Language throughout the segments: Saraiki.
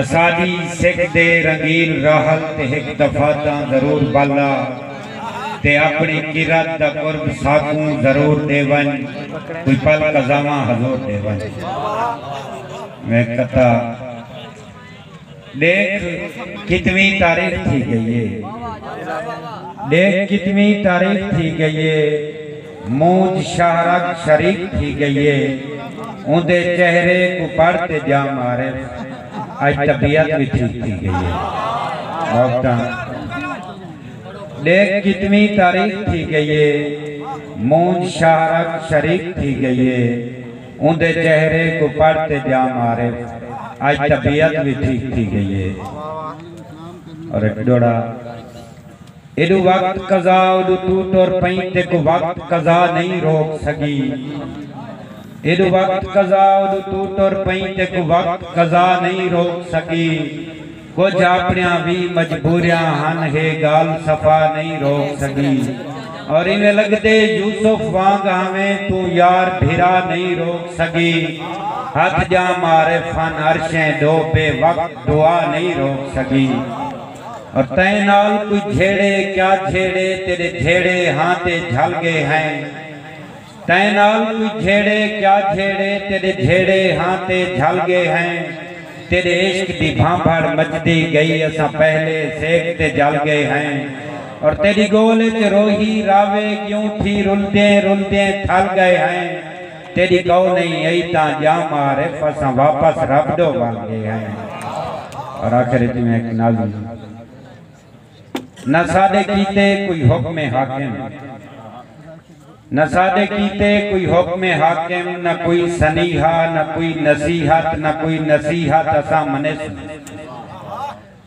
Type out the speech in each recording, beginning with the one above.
اساݙی سکھ دے رنگیل راحل تے ہک دفعہ تاں ضرور ٻالا تے اپݨی قرت دا قرب ساکوں ضرور ݙے ونڄ کوئی پل قضاواں حضور ݙے ونڄ میں کتا ݙیکھ کتویں تاریخ تھی ڳئی اے ݙیکھ کتویں تاریخ تھی ڳئی اے مونجھ شاہ رگ شریک تھی گئی اے اوندے چہرے کوں پڑھ تے جاں معارف اج طبیعت وی ٹھیک تھی گئی اے محبتاں ڈیکھ کتنویں تاریخ تھی گئی اے مونجھ شاہ رگ شریک تھی گئی اے اوندے چہرے کوں پڑھ تے جاں معارف اج طبیعت وی ٹھیک تھی گئی اے اور ایک ڈوڑا ایڈو وقت قضا اوڈو توں ٹر پئیں تیکوں وقت قضا نئیں روک سگی ایڈو وقت قضا اوڈو توں ٹر پئیں تیکوں وقت قضا نئیں روک سگی کجھ آپڑیاں وی مجبوریاں ہن ہے گال صفا نئیں روک سگی اور ایویں لگدے یوسف وانگ آویں توں یار بھرا نئیں روک سگی ہتھ جاں معارف ہن عرشیں ڈو بے وقت دعا نئیں روک سگی اور تیں نال کوئی جھیڑے کیا جھیڑے تیرے جھیڑے ہاں تے جھل گے ہیں تیں نال کوئی جھیڑے کیا جھیڑے تیرے جھیڑے ہاں تے جھل گے ہیں تیرے عشق دی بھانبھڑ مجدی گئی اساں پہلے سیک تے جل گے ہیں اور تیری گول اچ روہی راوے گیوں تھی رلدیں رلدیں تھل گے ہیں تیݙی کئو نئیں ہئی تاں جاں معارف اساں واپس رب ݙو ول ڳئے ہئیں۔ اور آخر اچ میں ہک ناظم نہ ساݙے کیتے کوئی حکم حاکم نہ ساݙے کیتے کوئی حکم حاکم نہ کوئی سنیہا نہ کوئی نصیحت نہ کوئی نصیحت اساں منیسوں۔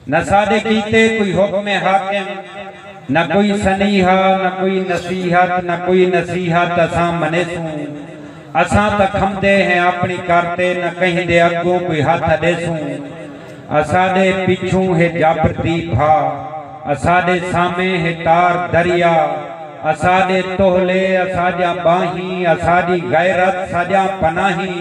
نہ ساڈے کیتے کوئی حکم حاکم نہ کوئی سنیہا نہ کوئی نصیحت نہ کوئی نصیحت اساں منیسوں اساں تاں کھمدے ہیں اپنی کر تے نہ کہیں دے اگوں کوئی ہتھ اڈیسوں اساڈے پچھوں ہے جابر دی بھا اساڈے سامیں ہے تار دریا اساڈے تولے اساڈیاں باہیں اساڈی غیرت ساڈیاں پناہیں۔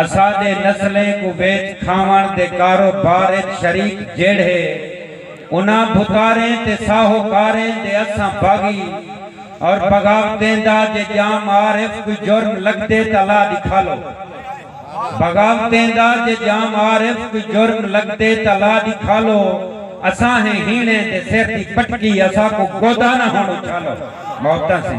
اساݙے نسلیں کوں ویچ کھاوݨ دے کاروبار اچ شریک جیڑھے انہاں بھتاریں تے ساہوکاریں دے اساں باغی اور بغاوتیں دا جے ڄام عارف کوئی جرم لڳدے تاں لا ݙکھالو بغاوتیں دا جے ڄام عارف کوئی جرم لڳدے تاں لا ݙکھالو اساں ہیں ہیݨیں دے سر دی پٹکی اساکوں گودا نہ ہݨ اچھالو محبتاں سیں۔